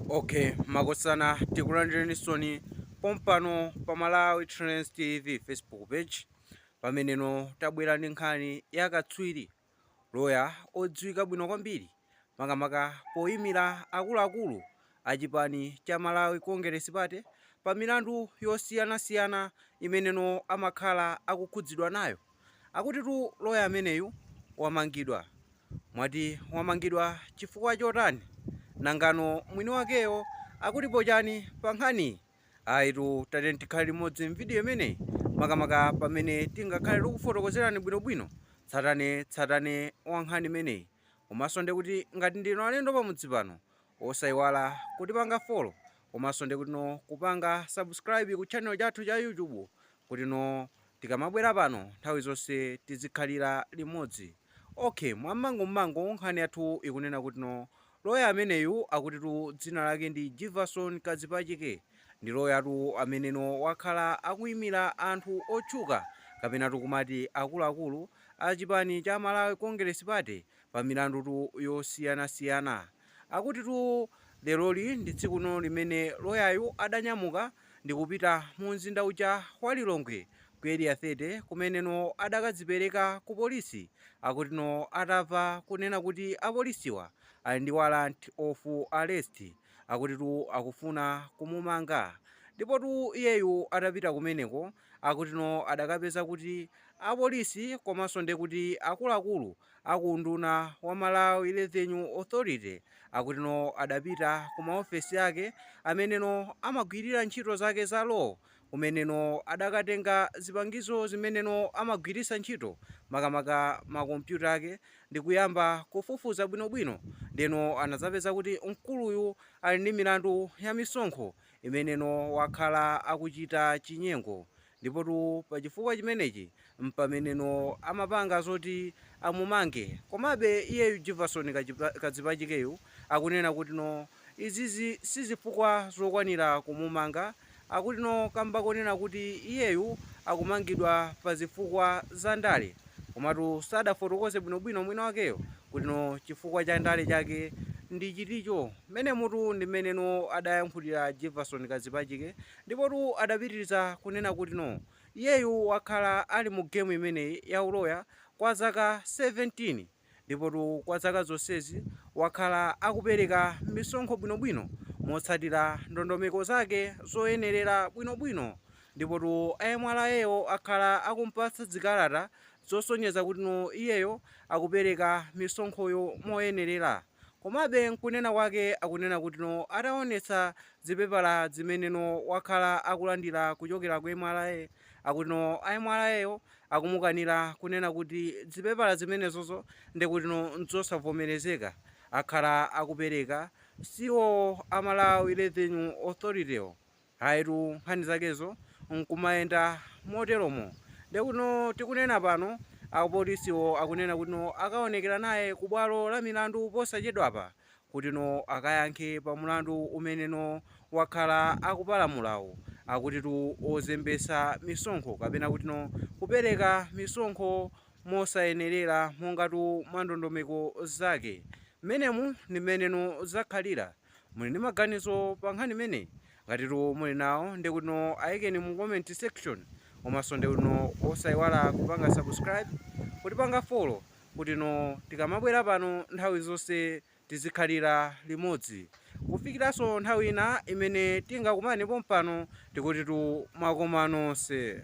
Ok makosana tikulandirenisoni pompano pa Malawi Trends TV Facebook page pameneno tabwera ndi nkhani ya katswiri loya odziwika bwino kwambiri makamaka poyimira akuluakulu a chipani cha Malawi Congress Party pa milandu yosiyanasiyana imeneno amakhala akukhudzidwa nayo. Akutitu loya ameneyu wamangidwa. Mwati wamangidwa chifukwa chotani? Nangano mwini wakeyo akutipo chani pa nkhaniyi? Ayitu tatiyeni tikhale limodzi m'video imeneyi makamaka pamene tingakhale tikufotokozerani bwinobwino tsatane tsatane wa nkhani imeneyi. Komanso ndiye kuti ngati ndinu alendo pamudzi pano osayiwala kutipanga follow komanso ndiye kutino kupanga subscribe ku channel chathu cha YouTube kutino Tikamabwera pano nthawi zonse tidzikhalira limodzi. Ok mwa m'mangum'mangu nkhani yathu ikunena kutino loya ameneyu akutitu dzina lake ndi Jivason Kadzipachike ndi loyatu ameneno wakhala akuimira anthu otchuka kapenatu kumati akuluakulu a chipani cha Malawi Congress Party pa milandutu yosiyanasiyana. Akutitu leloli ndi tsikuno limene loyayu adanyamuka ndi kupita mumzinda uja wa Lilongwe ku Area 30 kumeneno adakadzipereka kupolisi akutino atava kunena kuti apolisiwa ali ndi warrant of arrest akutitu akufuna kumumanga ndipotu iyeyu atapita kumeneko akutino adakapeza kuti apolisi komanso ndekuti akuluakulu A ku unduna wa Malawi Revenue Authority akutino adapita ku maofesi ake ameneno amagwirira ntchito zake za law kumeneno adakatenga zipangizo zimeneno amagwiritsa ntchito makamaka ma kompyuta ake ndikuyamba kufufuza bwinobwino ndiyeno anadzapeza kuti mkuluyu ali ndi milandu ya misonkho imeneno wakhala akuchita chinyengo Ndipotu pa chifukwa chimenechi m'pameneno amapanga zoti amumange. Komabe iyeyu Jivason Kadzipachikeyu akunena kutino izizi si zifukwa zokwanira kumumanga, akutino kamba konena kuti iyeyu akumangidwa pa zifukwa za ndale. Komatu sadafotokoze bwinobwino mwini wakeyo kutino chifukwa cha ndale chake ndi chiticho. Mmenemutu ndi mmeneno adayankhulira Jivason Kadzipachike Ndipotu adapitiriza kunena kutino iyeyu wakhala ali mu game imeneyi ya uloya kwa zaka 17 ndipotu kwa zaka zonsezi wakhala akupereka misonkho bwinobwino motsatira ndondomeko zake zoyenerera bwinobwino ndipotu a MRA wo akhala akumpatsa zikalata zosonyeza kutino iyeyo akupereka misonkhoyo moyenerera. Komabe nkunena kwake akunena kuti no ataonetsa zipepala zimene no wakhala akulandira kuchokera kwa MRA akuti no a MRA wo akumukanira kunena kuti zipepala zimenezo zo ndekuti no nzosavomelezeka akhala akupereka si iwo a Malawi Revenue Authority-wo. Ayitu, nkhani zakezo n'kumayenda moteromo. Ndiye kutino tikunena pano, apolisiwo akunena kutino akaonekera naye kubwalo la milandu posachedwapa kutino akayankhe pamulandu umeneno wakhala akupalamulawo, akutitu wozembetsa misonkho kapena kutino kupereka misonkho mosayenerera mongatu mwandondomeko zake. Mmenemu ndi mmeneno zakhalira. Muli ndi maganizo pa nkhani imeneyi? Ngatitu muli nawo ndekuti no ayikeni mu comment section komaso ndekuti no osayiwala kupanga subscribe kutipanga follow kuti no tikamabwera pano nthawi zonse tizikhalira limodzi kufikiranso nthawi ina imene tingakumane pompano tikutitu mwakoma nonse.